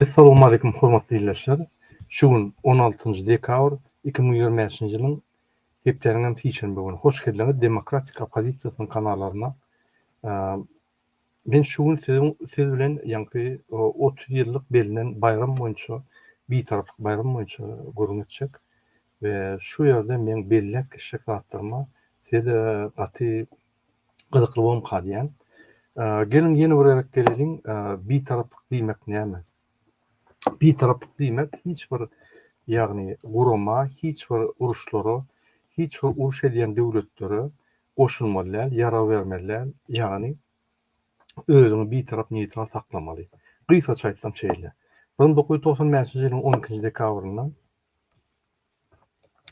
Essalamu aleýkum hormatly ildeşler. Şu gün on altynjy dekabr iki müň ýigrimi bäşinji ýylyň hepdäniň hem sişenbe güni. Hoş geldiňiz Demokratik oppozisiýasynyň kanallaryna. Men şu gün siziň siz bilen ýaňky otuz ýyllyk bellenen baýram boýunça Bitaraplyk baýramy boýunça gürrüň etjek we şu ýerde meň belläp geçjek zatlaryma size gaty gyzykly bolmka diýýän. Geliň ýene bir gezek geleliň Bitaraplyk diýmek näme? Bitaraplyk diýmek hiç bir ýagny gurama hiç bir uruşlara hiç bir uruş edýän döwletlere goşulmaly däl, ýarag bermeli däl, ýagny özüňi bitarap, neýtral saklamaly. Gysgaça aýtsam şeýle, bir müň dokuz ýüz togsan bäşinji ýylyň on ikinji dekabrynda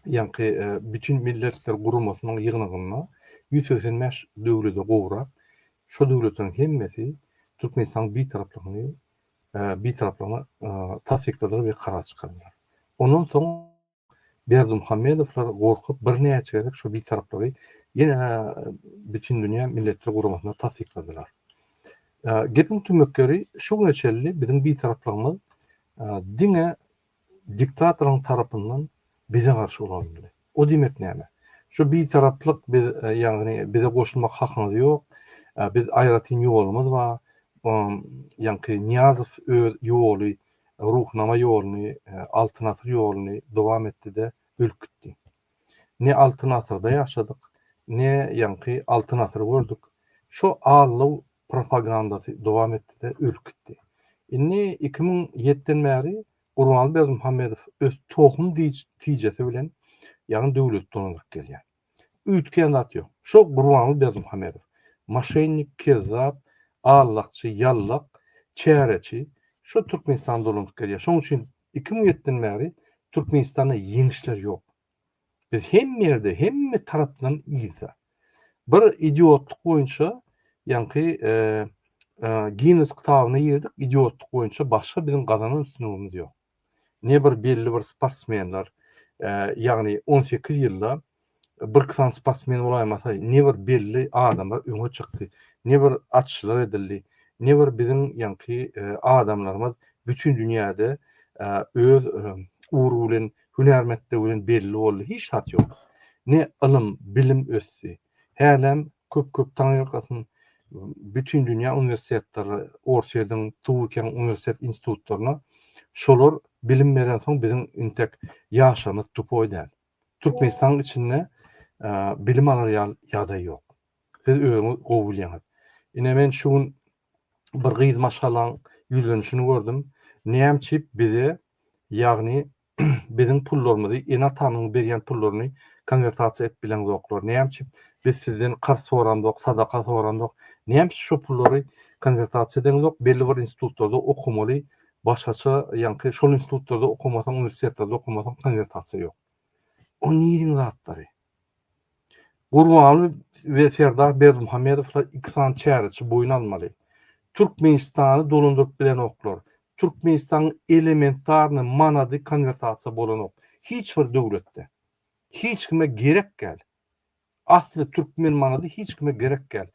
ýaňky Bütin milletler guramasynyň ýygnagynda ýüz segsen bäş döwlete gowrak şo döwletleriň hemmesi Türkmenistanyň bitaraplygyny bitaraplygyny tassykladylar we karar çykardylar. Ondan soň. Berdimuhamedowlar gorkup birnäçe gezek şu bitaraplygy ýene Bütindünýä Milletler Guramasynda tassykladylar. Gepiň tümmek ýeri şu güne çenli biziň bitaraplygymyz diňe diktatoryň tarapyndan bize garşy ulanyldy. O diýmek näme? Şu bitaraplyk biz ýagny bize goşulmak hakyňyz ýok, biz aýratyn ýolumyz bar, ýaňky Nyýazow öz ýoly Ruhnama ýoluny, Altyn asyr ýoluny dowam etdi-de, ölüp gitdi. Ne Altyn asyrda ýaşadyk, ne ýaňky Altyn asyry gördük. Şo allow propagandasy dowam etdi-de, ölüp gitdi. Indi iki müň ýetden bäri Gurbanguly Berdimuhamedow öz tohum tijesi bilen, ýagny döwleti dolandyryp gelýär. Üýtgän zat ýok. Şo Gurbanguly Berdimuhamedow. Maşennik, kezzap, allakçy, ýallak, çäreçi. Şo Türkmenistana dolanyp gelýär. Şoň üçin iki müň ýetiden bäri Türkmenistanda ýeňişler ýok. Biz hemme ýerde, hemme tarapdan yzda. Bir idiotlyk boýunça ýaňky Ginnes kitabyna girdik, idiotlyk boýunça başga biziň gazanan üstünligimiz ýok. ne bir belli bir sportsmenler, ýagny on sekiz ýylda birki sany sportsmen bolaýmasa, ne bir belli adamlar öňe çykdy, ne bir açyşlar edildi, ne bir biziň ýaňky adamlarymyz bütin dünýäde öz ugry bilen, hünärmetdigi bilen belli boldy, hiç zat ýok. Ne ylym, bilim ösdi. Hälem Köp köp taňyrkasyn bütin dünýä uniwersitetleri orsyýediň tuwikeň uniwersitet institutlaryna şolar bilim beren soň biziň intek ýaşlarymyz tupoý däl türkmenistanyň içinde bilim alar ýaly ýagdaý ýok siz özüňiz gowy bilýäňiz ine men şu gün bir gyz maşgalaň ýüzlenişini gördüm näme üçin bize ýagny biziň pullarymyzy ene-atamyň berýän pullaryny konwertasiýa edip bileňzoklar näme üçin biz sizden karz soramzok sadaka soramzok näme üçin şo pullary konwertasiýa edeňzok belli bir institutlarda okamaly başgaça ýaňky şol institutlarda okamasaň uniwersitetlarda okamasaň konwertasiýa ýok o niriň zatlary Gurbanguly we Serdar Berdimuhamedowlar iki sany çäreçi boýun almaly. Türkmenistany dolandyryp bilenoklar. Türkmenistanyň elementarnyý manady konwertasiýa bolanok. Hiç bir döwletde. Hiç kime gerek däl. Asly türkmen manady hiç kime gerek däl.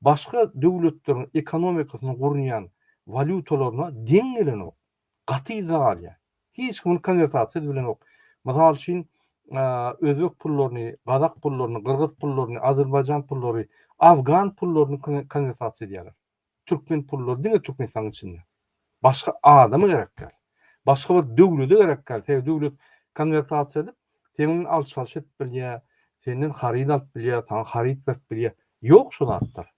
Başga döwletleriň ekonomikasyny gurnýan walýutalaryna deň gelenok. gaty yzda galýar. Hiç kimin konwertasiýasy bilenok. Mysal üçin, özbek pullaryny, gazak pullaryny, gyrgyz pullaryny, azerbaýjan pullary, afgan pullaryny konwertasiýa edýärler. Türkmen pullary diňe Türkmenistanyň içinde. Başga adama gerek däl. Başga bir döwlete gerek däl. Sebäbi döwlet konwertasiýa edip, seniň bilen alşalyş edip bilýär, senden haryt alyp bilýär, saňa haryt berip bilýär. Ýok şo zatlar.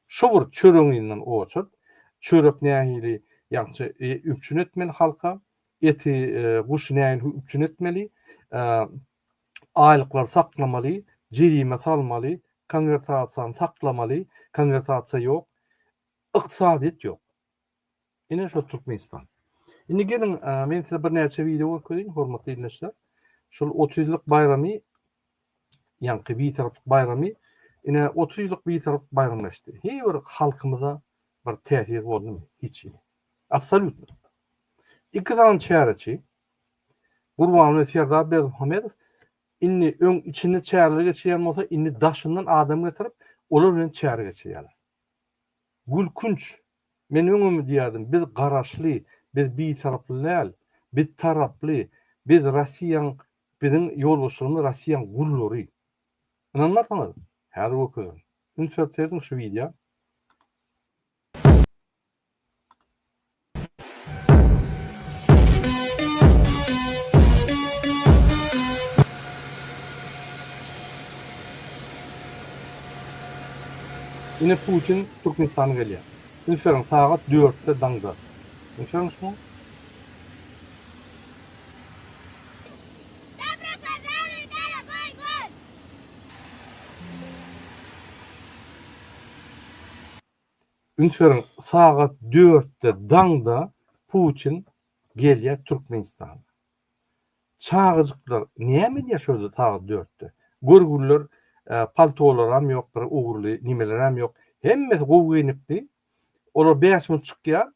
Şu bir çöregiňden oçurt. Çörek nähili ýagşy üpjün etmeli halka, eti, guşy nähili üpjün etmeli, aýlyklary saklamaly, jerime salmaly, konwertasiýany saklamaly, konwertasiýa ýok, ykdysadyýet ýok. Ine şo Türkmenistan. Indi geliň, men size birnäçe wideo görkezeýin, hormatly ildeşler. Şol 30 ýyllyk baýramy, ýaňky Bitaraplyk baýramy, ine 30 ýyllyk Bitaraplyk baýramy geçdi. Heý bir halkymyza bir täsir boldumy? Hiç hili. Absolýutno. Iki sany çäreçi, Gurban we Serdar Berdimuhamedow indi öň içinde çäreler geçirýän bolsa, indi daşyndan adam getirip, olar bilen çäre geçirýärler. Gülkünç, men öňem diýýärdim, biz garaşly, biz bitaraply däl, biz taraply, biz Rossiýaň, biziň ýolbaşçylygymyz Rossiýaň gullary. Ynanmarsyňyz, häzir görkezerin. Üns berip seredin şu wideo. Ine Putin Türkmenistana gelýär. Bilseniň sagat dörtde daňda. Görýäňizmi? Üns beriň, sagat dörtde daňda Putin gelýär Türkmenistana. Çagajyklar näme edýär şol sagat dörtde? Görgüliler paltolaram ýok, bir ugurly nimelerem ýok. Hemmesi gowy geýnipdi. Olar bäş minut çykýar,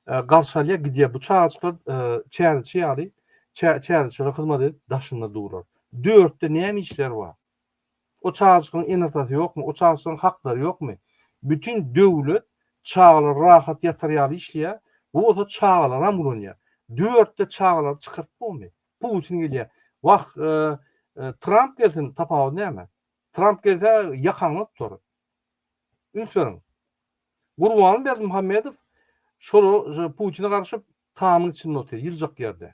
garşy alýar, gidýär. Bu çagajyklar çäreçi ýaly, çäreçilere hyzmat edip daşynda durar. Dörtde näme işleri bar? O çagajykyň ene-atasy ýokmy? O çagajygyň haklary ýokmy? Bütin döwlet çagalary rahat ýatar ýaly işleýär, bu bolsa çagalaram ulanýar. Dörtde çagalary çykaryp bolmy? Putin gelýär. Wah, Tramp gelsin, tapawudy näme? Tramp gelse ýakaňdan tutar. Üns beriň. Gurbanberdi Muhammedow şolar Putine garşyp tamyň içinde otyr, ýyljak ýerde.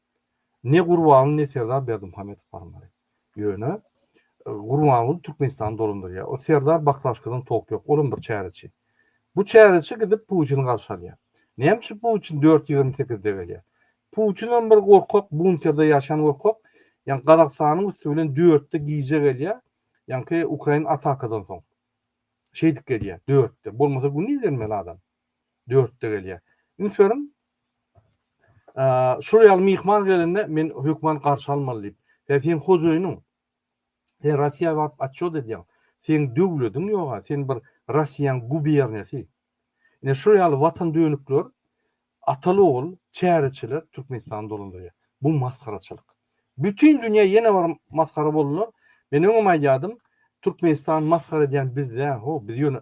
Ne Gurbanguly ne Serdar Berdimuhamedow barmaly. Ýöne Gurbanguly Türkmenistany dolandyrýar. O Serdar Baklaşkadan topy ýok. Olam bir çäreçi. Bu çäreçi gidip Putini garşy alýar. Näme üçin Putin dört ýigrimi sekizde gelýär? Putinem bir gorkak, bunterde ýaşan gorkak. Ýani Gazagystanyň üsti bilen dörtde gije gelýär. Ýanki ukrain atakadan soň. Şeýdip gelýär dörtde. Bolmasa gündiz gelmeli adam. Dörtde gelýär. Üns beriň. Şul ýaly myhman gelende men hökman garşy almaly diýip. Sen sen hojaýynyň. Sen Russiýa baryp atçot edýäň. Sen döwlediň ýoga, sen bir Russiýaň guberniýasy. Ine şul ýaly watan dönükler atal ogul çäreçiler Türkmenistany dolandyrýar. Bu masgaraçylyk. Bütin dünýä ýene bir masgara boldular. Men öňem aýdýadym, Türkmenistan masgara edýän bizde, ho, biz ýöne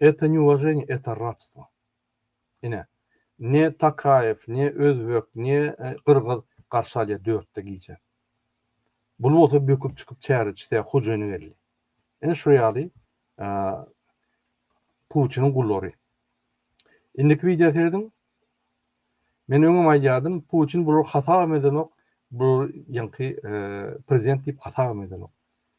Eto ne uvaženýe eto rabstvo. Ine ne takaýew ne özbek ne gyrgyz garşy alýar dörtde gije. Bul bolsa böküp çykyp çäre çytýar hujyny geldi. Ine şu ýaly putiniň gullary. Indiki wideo serediň. Men öňem aýdýadym putin bulary hasabam edenok. Bular ýaňky prezident diýip hasabam edenok.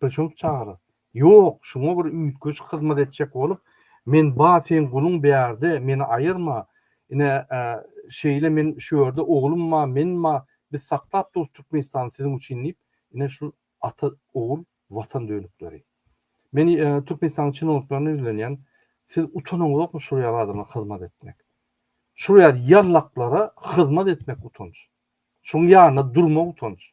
Köçüň çagyryp. Ýok, şuňa bir üýtgeşik hyzmat etjek bolup, men ba seň guluň bärde, meni aýyrma. Ine, şeýle men şu ýerde oglum ba, men ba, biz saklap durus Türkmenistany siziň üçin diýip, ine şul ata, ogul, Watan dönükleri. Men Türkmenistanyň çinowniklerine ýüzlenýän, siz utanyň ýokmy şul ýaly adama hyzmat etmek? Şul ýaly ýallaklara hyzmat etmek utanç. Şuň ýanynda durmak utanç.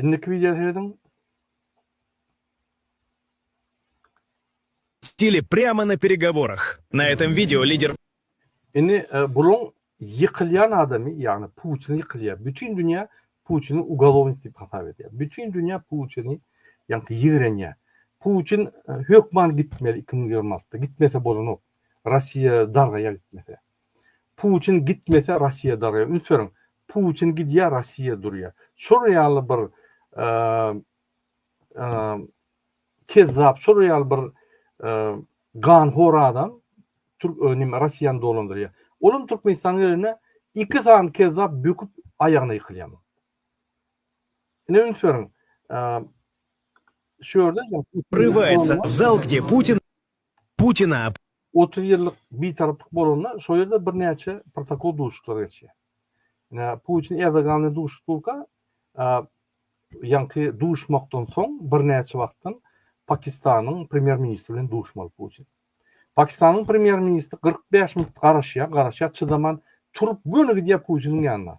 Indiki wideo serediň. Sili prýama na peregoworah. Na etom wideo lider. Indi buluň ýykylýan adamy ýagny Putin ýykylýar. Bütin dünýä Putini ugalownik diýip hasap edýär. Bütin dünýä Putini ýaňky ýigrenýär. Putin hökman gitmeli iki müň ýigrimi altda. Gitmese bolanok. Rossiýa dargaýar gitmese. Putin gitmese Rossiýa darga üns beriň. Putin gidýär Rossiýa durýar. Şol ýaly bir kezzap şol ýaly bir ganhor adam Türk önim Rossiýany dolandyrýar. Olam Türkmenistanyň ýerine iki sany kezzap böküp aýagyna ýykylýar. Ine üns beriň. Şu ýerde Rywayatsa, w zal, gde Putin. Putina. Otuz ýyllyk bitaraplyk bolanda şol ýerde birnäçe protokol duşuşyklary geçýär. Ine, Putin Erdogan bilen duşuşyp durka, ýaňky duşuşmakdan soň birnäçe wagtdan Pakistanyň premýer-ministri bilen duşmaly Putin. Pakistanyň premýer-ministri kyrk bäş minut garaşýar, garaşýar, çydaman turup göni gidýär Putiniň ýanyna.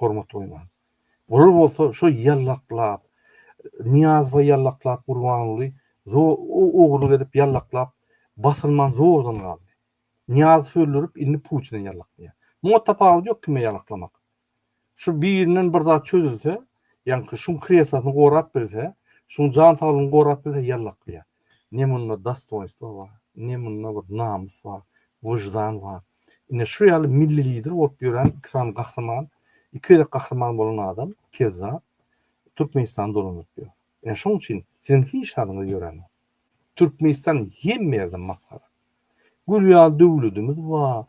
hormat goýman. Olar bolsa şo ýallaklap, Nyýazowa ýallaklap Gurbanguly ogurlyk edip ýallaklap basylman zordan galdy. Nyýazow öldürip indi Putine ýallaklaýar. Muňa tapawudy ýok kime ýalaklamak. Şu birinden bir zat çözülse, ýaňky şuň kresasyny gorap bilse, şuň jan saglygyny gorap bilse ýallaklaýar. ne munda dostoýnstwo bar, ne munda bir namys bar, wyždan bar. Ine, şu ýaly milli lider bolup ýören iki sany gahryman, iki gezek gahryman bolan adam, kezzap, Türkmenistany dolandyryp ýör. Ine, şonuň üçin siziň hiç zadyňyz ýörenok. Türkmenistan hemme ýerden masgara. Gül ýaly döwledimiz bar,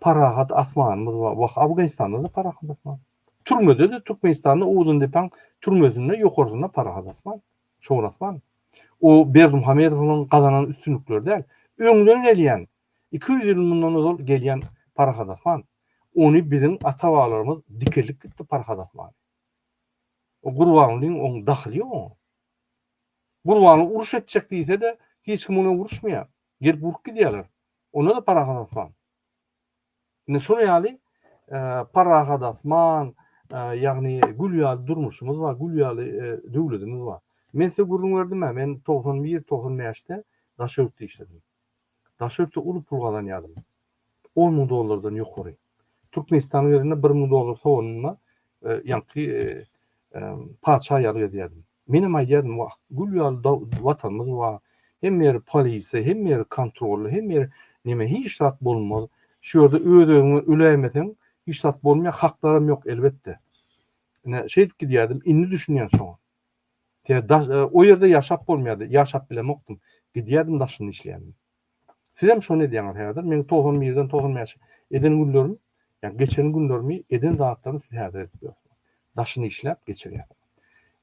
parahat asmanymyz bar. Wah, Afganistanda-da parahat asman. Türmede-de Türkmenistanda Owzyndepäň türmesinde ýokarsynda parahat asman. Çowraslan, o Berdimuhamedowyň gazanan üstünlikleri däl, öňden gelýän, iki ýüz ýyl mundan ozal gelýän parahat asman. Ony biziň ata-babalarymyz dikeldip gitdi parahat asmany. O Gurbangulyň oň dahyly ýok oňa. Gurbanguly uruş etjek diýse-de, hiç kim bilen uruşmaýar. Gelip urup gidýärler. Onda-da parahat asman. Ine şonuň ýaly parahat asman, ýagny gül ýaly durmuşymyz bar, gül ýaly döwletimiz bar. Men size gürrüň berdim-ä, men togsan bir, togsan bäşde daşörtde işledim. Daşörtde uly pul gazanýardym. On müň dollardan ýokary. Türkmenistanyň ýerinde bir müň dollar soganymda ýaňky patyşa ýaly gezýärdim. Menem aýdýardym, Wah, gül ýaly Watanymyz bar. Hemme ýeri polisiýa, hemme ýeri kontrolly, hemme ýeri neme, hiç zat bolmaz. Şu ýerde öz-özüňe öläýmeseň, hiç zat bolmaýar, haklaram ýok, elbetde. Ine, şeýdip gidýärdim. Indi düşünýän şoňa. Tä o ýerde ýaşap bolmaýardy, ýaşap bilemokdym. Gidýärdim, daşynda işleýärdim. Sizem şony edýäňiz häzir. Meň togsan birden togsan bäşe eden günlerim, ýa geçen günlerimi, eden zatlarymy siz häzir edip ýörsiňiz. Daşyny işläp geçirýärsiňiz.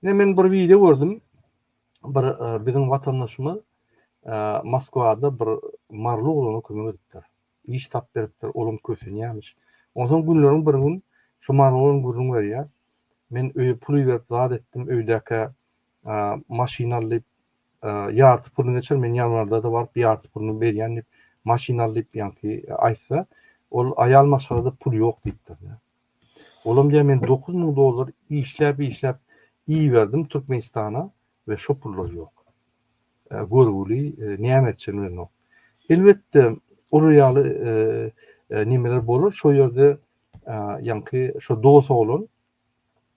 Ine men bir wideo gördüm. Bir biziň watandaşymyz Moskwada bir maryly oglana kömek edipdir. Iş tap beripdir, olam kösenýämiş. Onsoň günleriň bir gün şu maryly oglan gürrüň berýär. Men öýe pul iberip zat etdim, öýdäkä maşyn al diýip, ýarty puluny geçer, men ýanwarda-da baryp ýarty puluny berýän diýip, maşyn al diýip, ýaňky aýtsa, ol aýal maşgalada pul ýok diýipdir. Olam diýýär, men dokuz müň dollar işläp-işläp iberdim Türkmenistana we şo pullar ýok. Görgüli näme etjegini bilenok. Elbetde, olar ýaly nemeler bolar, şo ýerde ýaňky şo dos oglan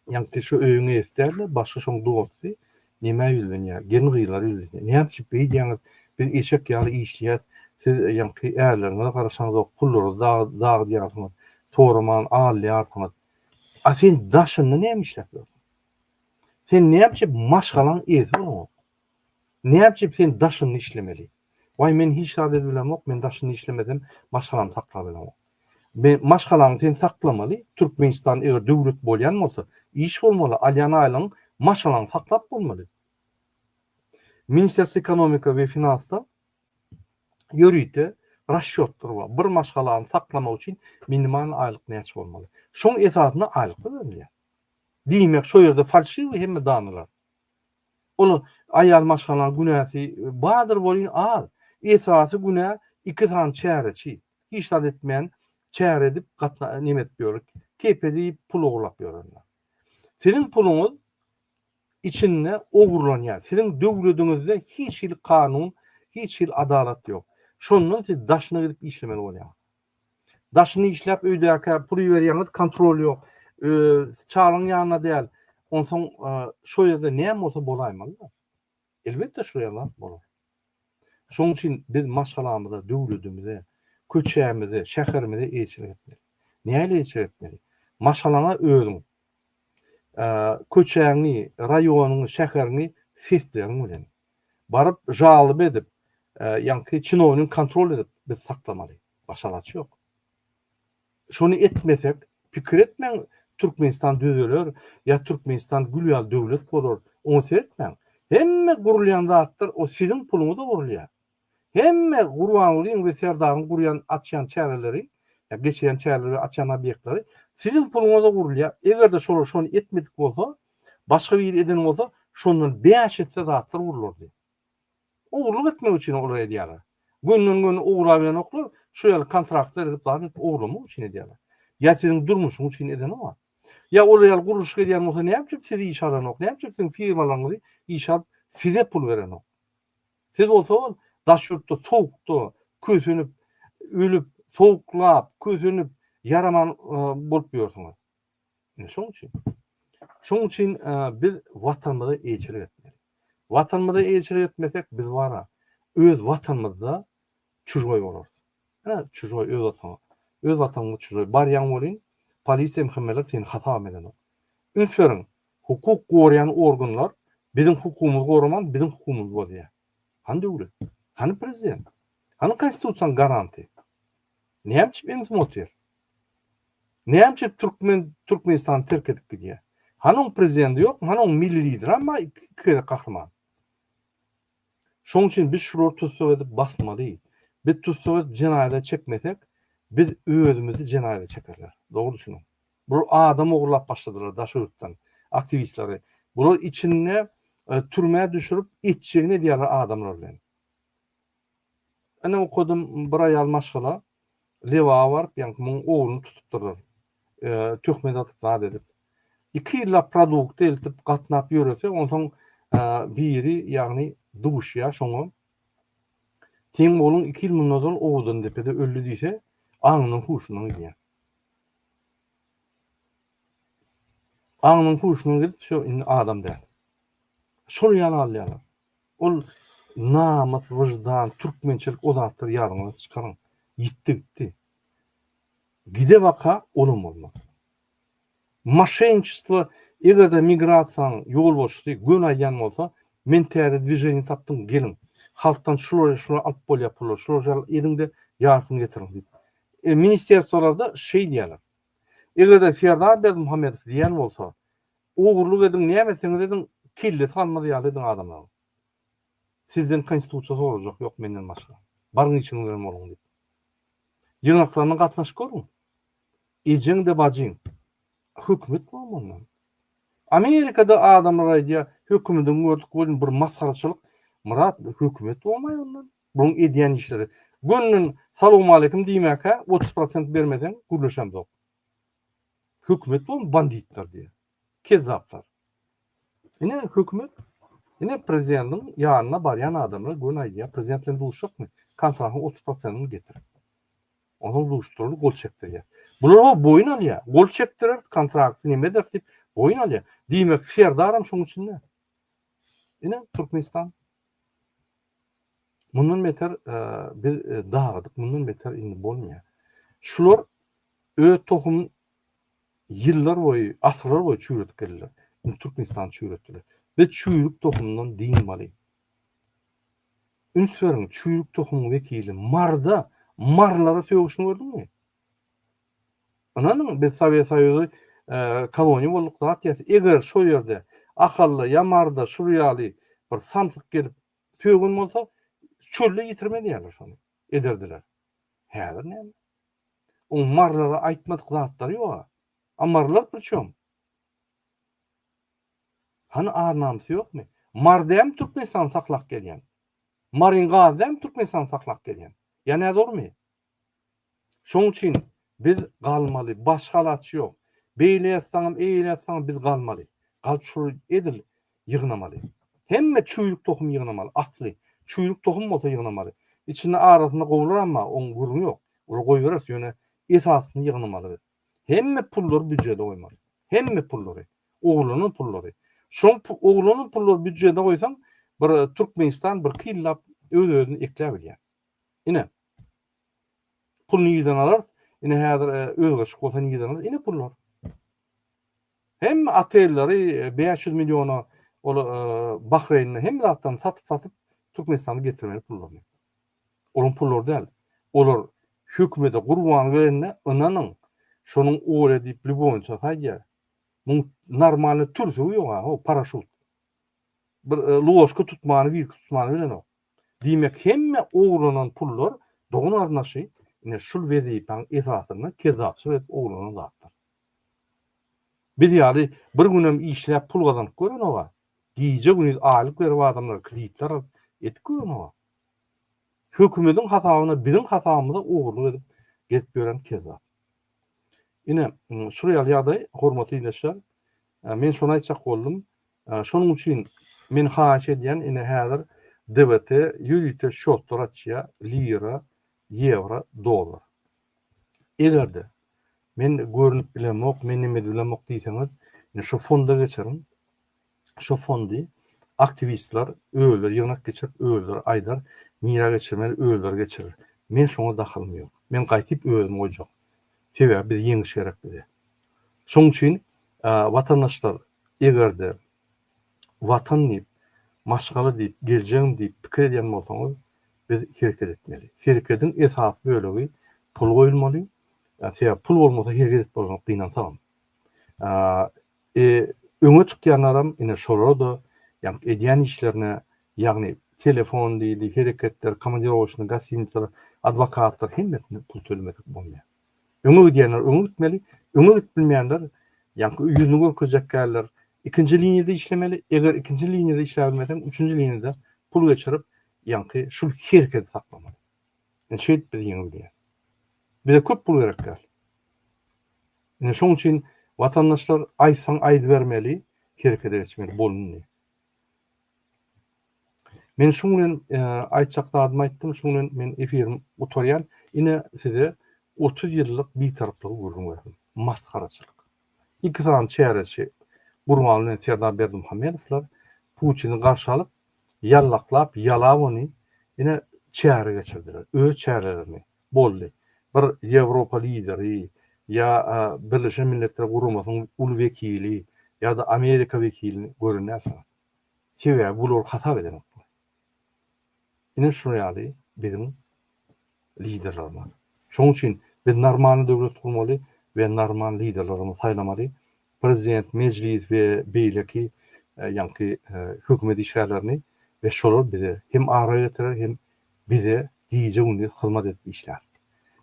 Ýaňky şu öýüňi eýsdärler, başga şoň dosty, nemä ýüzlenýär, gelin gyzlara ýüzlenýär. Näme üçin beýdýäňiz, biz eşek ýaly işleýäs, siz ýaňky ärleriňize garaşaňzok, pullary dagydýarsyňyz, soraman alýarsyňyz. A sen daşynda näme işläp ýörsiň? Sen näme üçin maşgalaň eýesi bolanok? Näme üçin sen daşynda işlemeli? Waý men hiç zat edip bilemok, men daşynda işlemesem maşgalamy saklap bilemok. Be maşgalaňy sen saklamaly, Türkmenistan eger döwlet bolýan bolsa, iş bolmaly, alýan aýlygyň maşgalaňy saklap bolmaly. Ministerstw ekonomika we finansda ýörite rasçýotlar bar. Bir maşgalany saklamak üçin minimal aýlyk näçe bolmaly? Şoň esasynda aýlyklar berilýär. Diýmek, şo ýerde falşiwi hemme danalar. Ol aýal maşgala günäsi bardyr welin az. Esasy günä iki sany çäreçi. Hiç zat etmän çäre edip neme edip ýörük. Kepil iýip pul ogurlap ýörenler. Siziň puluňyz içinde ogurlanýar. Siziň döwlediňizde hiç hili kanun, hiç hili adalat ýok. Şondan siz daşyna gidip işlemeli bolýaňyz. Daşyny işläp öýdäkä pul iberýäňiz kontrol ýok çalyň ýanyna däl onsoň şo ýerde näme bolsa bolaýmalyda elbetde şo ýerde bolar şoň üçin biz maşgalamyza döwledimize köçämize şäherimize eýeçilik etmeli näle eýeçilik etmeli maşgalaňa özüň köçäňi raýonyňy şäheriňi sesleriň bilen baryp žalyp edip ýaňky çinownik kontrol edip biz saklamaly başga alaç ýok şony etmesek pikir etmäň türkmenistan düzeler ýa türkmenistan gül ýaly döwlet bolar oňa seretmäň hemme gurulýan zatlar o siziň puluňyza gurulýar Hemme Gurbangulyň we Serdaryň gurýan, açýan çäreleri, ýa geçirýän çäreleri we açýan obýektleri siziň puluňyza gurulýar. Eger-de şolar şony etmedik bolsa, başga biri eden bolsa, şondan bäş esse zatlar gurlardy. Ogurlyk etmek üçin olar edýärler. Gönden-göni ograbilenoklar, şu ýaly kontraktlar edip, zat edip ogurlamak üçin edýärler. Ýa siziň durmuşyň üçin edeni bar. Ýa olar ýaly gurluşyk edýän bolsa näme üçin sizi işe alanok, näme üçin siziň firmalaryňyzy işe alyp, size pul berenok? Siz bolsaňyz daş ýurtda sowukda kösenip, ölüp, sowuklap, kösenip, ýaraman bolup ýörsüňiz. Ine şonuň üçin. Şonuň üçin biz Watanymyza eýeçilik etmeli. Watanymyza eýeçilik etmesek biz wara, öz Watanymyzda çujgoý bolarys. Hä, çujgoý öz ataňa. Öz wataňyňa çujgoý. Barýaň welin, polisiýam hemmeler seni hasabam edenok. Üns beriň, hukuk gorýän organlar biziň hukumymyzy goraman, biziň hukumymyzy bozýar. Hany döwlet? Hany prezident? Hany konstitusiýanyň garanty? Näme üçin emzim otyr? Näme üçin türkmen Türkmenistany terk edip gidýär? Hany oň prezidenti ýokmy? Hany oň milli lideram bar iki gezek gahryman? Şoň üçin biz şulary tussag edip basmaly. Biz tussag edip jenaýata çekmesek, biz özümizi jenaýata çekerler. Dogry düşüniň. Bular adam ogurlap başladylar Daşoguzdan aktiwistleri. Bular içinde türmä düşürip etjegini edýärler adamlar bilen. Ine okadym bir aýal maşgala Lebaba baryp ýaňky muň ogluny tutupdyrlar töhmet atyp zat edip. Iki ýyllap produkty eltip gatnap ýörese onsoň biri ýagny duşýa şoňa Seň ogluň iki ýyl mundan ozal Owadandepede öldi diýse aňyndan huşundan gidýä. Aňyndan huşundan gidip şo indi adam däl. Şol ýaly alýarlar. Ol namys wyždan türkmençelik o zatlar ýadyňyzdan çykaryň ýitdi gitdi. Gide baka olam bolmaz. Maşenniçestvo egerde migrasiýanyň ýolbaşçysy göni aýdýan bolsa men täze dwiženiýa tapdym geliň halkdan şulary şulary alyp bolýar pullary şulary şulary ediňde ýarsyny getiriň diýip e ministerstwolarda şeýdýärler. Egerde Serdar Berdimuhamedow diýýän bolsa Ogurlyk ediň näme etseňiz ediň kellesi galmaz ýaly ediň adamlaň. Sizden konstitusiýa sorajak ýok menden başga. Baryň işiňiz bilen boluň diýip. Ýygnaklaryna gatnaşyp görüň. Ejeň-de bajyň. Hökümet boluň ondan. Amerikada adamlar aýdýar hökümeden gördük welin bir masgaraçylyk. Myrat hökümet bolmaý ondan. Buluň edýän işleri. Gönnen salowmaleýkim diýmäkä otuz prosent bermeseň gürleşemzok. Hökümet boluň banditler diýýär. Kezzaplar. Ine hökümet ine prezidentiň ýanyna barýan adamlar göni aýdýar prezident bilen duşjakmy kontragyň otuz prosentini getir. Onsoň duşdurly gol çekdirýär. Bular o boýun alýar. Gol çekdirer kontrakty neme eder diýip boýun alýar. Diýmek Serdaram şoň içinde. Ine Türkmenistan. Mundan beter biz dagydyk, mundan beter indi bolmaýar. Şular öz tohum ýyllar boýy, asyrlar boýy çüwredip geldiler. Indi Türkmenistan çüwretdiler. Biz çüwrük tohumdan dynmaly. Üns beriň, çüwrük tohumyň wekili marda, marlara sögüşini gördüňmi? Ynanyň biz Sowet Soýuzy koloniýa bolduk zat ýaly, eger şo ýerde Ahalda, Ýamarda şur ýaly bir samsyk gelip sögen bolsa, çölde ýitirmez ýaly şony ederdiler. Häzir näme? Oň marlara aýtmadyk zatlary ýoga. A marlar priçom? Hany ar-namysy ýokmy? Mar dämi Türkmenistany saklap gelýän? Maryň gazy dämi Türkmenistany saklap gelýän? Ýa näzormy? Şoň üçin biz galmaly, başga alaç ýok. Beýle ýazsaňam, eýle ýazsaňam biz galmaly. Galyp şol edil ýygnamaly. Hemme çüýrük tohum ýygnamaly, asly. Çüýrük tohum bolsa ýygnamaly. Içinde arasynda gowular amma oň gürrüňi ýok. Ol goýbereris ýöne esasyny ýygnamaly biz. Hemme pullary býujede goýmaly. Hemme pullary. Oglanan pullary. Şoň oglanan pullary býujede goýsaň bir Türkmenistan bir killap öz-özüni ekläbilýär. Ine, Puluny yzdan alarys. Ine häzir özgerşik bolsa nireden alarys ine pullar. Hemme otelleri bäş ýüz milliona ol Bahreýnde hemme zatdan satyp-satyp Türkmenistana getirmeli pullaryny. Olaryň pullary däl. Olar hökümede gurban berende ynanyň şonuň oýe diýip lýubowniça saýýar. Muň normalny türsügi ýok-a, o paraşut. Bir ložka tutmany, wirki tutmany bilenok. Diýmek hemme ogurlanan pullar dogan garyndaşy ine şul wezipäň esasynda kezzapçylyk edip ogurlanan zatlar. Biz ýaly bir günem işläp pul gazanyp görenogä, gije gündiz aýlyk berip adamlara kreditler alyp etip görenogä. Hökümediň hasabyna biziň hasabymyza ogurlyk edip gezip ýören kezzap. Ine şul ýaly ýagdaý hormatly ildeşler men şony aýtjak boldum Şonuň üçin men haýyş edýän ine häzir DVT ýörite şotlar açýa lira, ýewro, dollar. Egerde men görnüp bilemok, men neme edip bilemok diýseňiz ine şu fonda geçiriň. Şu fondy aktiwistler özleri ýygnak geçirip özleri aýdar nirä geçirmeli özleri geçirir. Men şoňa dahylym ýok. Men gaýtyp özümi goýjak. Sebäbi biz ýeňiş gerek bize. Şonuň üçin watandaşlar eger-de watan diýip, maşgala diýip, geljegim diýip pikir edýän bolsaňyz, biz hereket etmeli. Herekediň esasy bölegi pul goýulmaly. Sebäbi pul bolmasa hereket edip bolmaz gynansagam. E, öňe çykýanlaram ine şolar-da ýagny edýän işlerine, ýagny telefon diýdi, hereketler, komandirowaçny, gostinitsalar, adwokatlar hemmesine pul tölemesek bolmaýar. Öňe gidýänler öňe gitmeli, öňe gidip bilmeýänler ýaňky ýüzüni görkezjek däldir. Ikinji liniýada işlemeli, eger ikinji liniýada işläp bilmeseň, üçünji liniýada pul geçirip, ýaňky şul hereketi saklamaly. Ine şeýdip biz ýeňip bilýäs. Bize köp pul gerek däl. Ine şoň üçin watandaşlar aýtsaň aýdybermeli, herekete geçmeli bolundy. Men şuň bilen aýtjak zadymy aýtdym, şuň bilen men efirim gutarýan. Ine size otuz ýyllyk bitaraplygy gürrüň berdim. Masgaraçylyk. Iki sany çäreçi Gurban bilen Serdar Berdimuhamedowlar Putini garşy alyp, ýallaklap, ýalap ony ine çäre geçirdiler. Öz çärelerini. boldy. Bir Ýewropa lideri ýa Birleşen Milletler Guramasynyň uly wekili ýa-da Amerika wekilini gören dälsiňiz. Sebäbi bu olar hasap edenok bula. Ine şular ýaly biziň liderlerimiz. Şonuň üçin biz normalny döwlet gurmaly we normal liderlerimizi saýlamaly. Prezident, Mejlis we beýleki ýaňky hökümet işgärlerini we şolar bize hem ara getirer hem bize gije gündiz hyzmat edip işlär.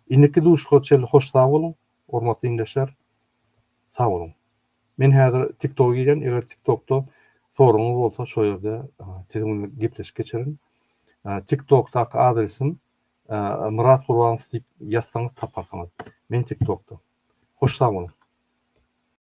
Indiki duşuşyga çenli hoş sag boluň hormatly iňdeşler sag boluň. Men häzir tiktoga girýän eger tiktokda soragyňyz bolsa şo ýerde siziň bilen gepleşik geçerin. Tiktokdaky adresim Myrat Gurbanow diýip ýazsaňyz taparsyňyz. Men tiktokda. Hoş sag boluň.